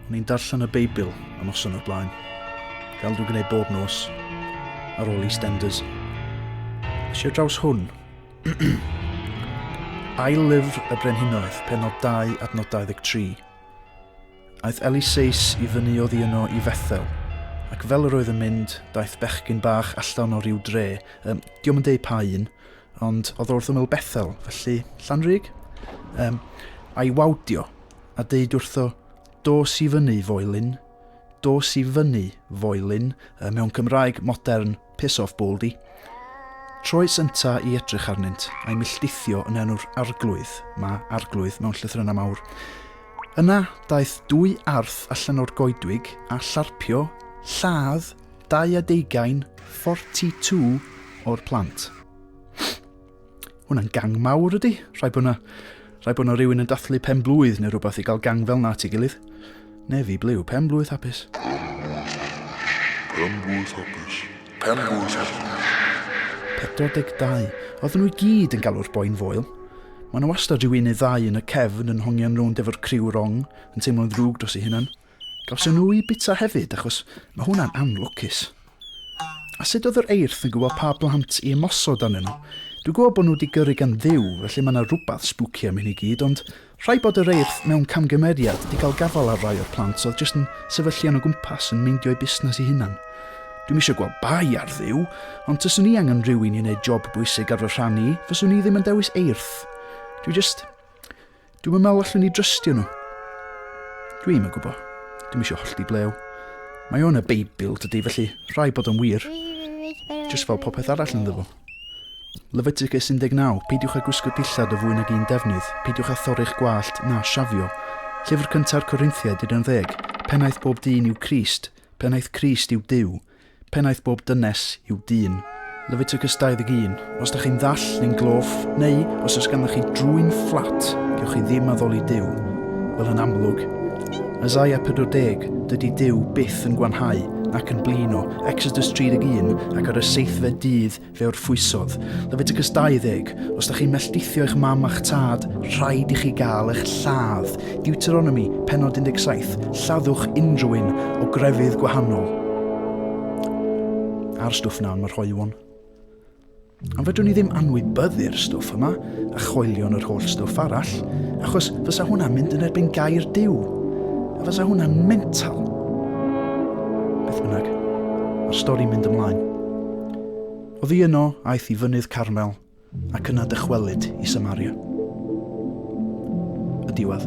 O'n i'n darllen y Beibl y noson o'r blaen, fel dwi'n gwneud bob nos, ar ôl i Stenders. Nes i'r draws hwn. Ail lyfr y Brenhinoedd, penod 2 adnod 23. Aeth Eliseus i fyny oddi yno i Fethel, ac fel yr oedd yn mynd, daeth bechgyn bach allan o ryw dre, um, diom yn deud pa un, ond oedd wrth ymyl Bethel, felly Llanrug, um, a'i wawdio, a deud wrtho, dos i fyny, foelyn, dos i fyny, foelyn, uh, mewn Cymraeg modern, Piss off Baldy. Troes ynta i edrych arnynt, a'i milltithio yn enw'r arglwydd, ma arglwydd mewn llythrynau mawr. Yna, daeth dwy arth allan o'r goedwig a llarpio lladd dau a deugain, 42, o'r plant. Hwna'n gang mawr ydy? Rhaid bod yna, rhaid bod yna rhywun yn dathlu pen blwydd neu rhywbeth i gael gang fel na ti gilydd. Nefi blew, pen blwydd hapus. Pen blwydd hapus. Pen blwydd hapus. 42. Oedden nhw i gyd yn galw'r boi'n foel. Mae yna wastad rhyw un neu ddau yn y cefn yn hongian rownd efo'r criw wrong, yn teimlo'n ddrwg dros ei hunan. Gawson nhw eu bita hefyd achos mae hwnna'n anlwcus. A sut oedd yr eirth yn gwybod pa blant i ymosod arnyn nhw? Dwi'n gwybod bod nhw wedi gyrru gan Dduw, felly mae yna rhywbeth spooky am hyn i gyd, ond rhaid bod yr eirth mewn camgymeriad wedi cael gafael ar rai o'r plant oedd jyst yn sefyllian o gwmpas yn meindio eu busnes i hunan. Dwi'm eisiau gweld bai ar Dduw, ond taswn i angen rhywun i wneud job bwysig ar fy rhan i, fyswn i ddim yn dewis eirth. Dwi just... Dwi'm yn meddwl allwn ni drystio nhw. Dwi'm yn gwybod. Dwi'm eisiau hollti blew. Mae o'n y Beibl, dydy, felly rhai bod o'n wir. Just fel popeth arall yn ddyfo. Leviticus 19, peidiwch â gwisgo dillad o fwy nag un defnydd, peidiwch â thorri'ch gwallt na siafio. Llyfr cynta'r Corinthiaid 11, pennaeth bob dyn yw Crist, pennaeth Crist yw Dyw, Pennaeth bob dynes yw dyn. Leviticus 21. Os da chi'n ddall neu'n gloff, neu os oes ganddo chi drwyn fflat, gewch chi ddim addoli Duw. Fel yn amlwg. Isaiah 40, dydy Duw byth yn gwanhau, nac yn blino, Exodus 31, ac ar y seithfed dydd Fe orffwysodd. Leviticus 20, Os da chi'n melltithio eich mam a'ch tad, rhaid i chi gael eich lladd. Deuteronomi, penod 17, Lladdwch unrhyw un o grefydd gwahanol. A'r stwff na yn yr hoelwon. Ond fedrwn ni ddim anwybyddu'r stwff yma a choelion yr holl stwff arall, achos fysa hwnna'n mynd yn erbyn gair Dyw, a fysa hwnna'n mental. Beth bynnag, mae'r stori'n mynd ymlaen. Oddi yno, aeth i Fynydd Carmel, ac yna dychwelyd i Samaria. Y diwedd.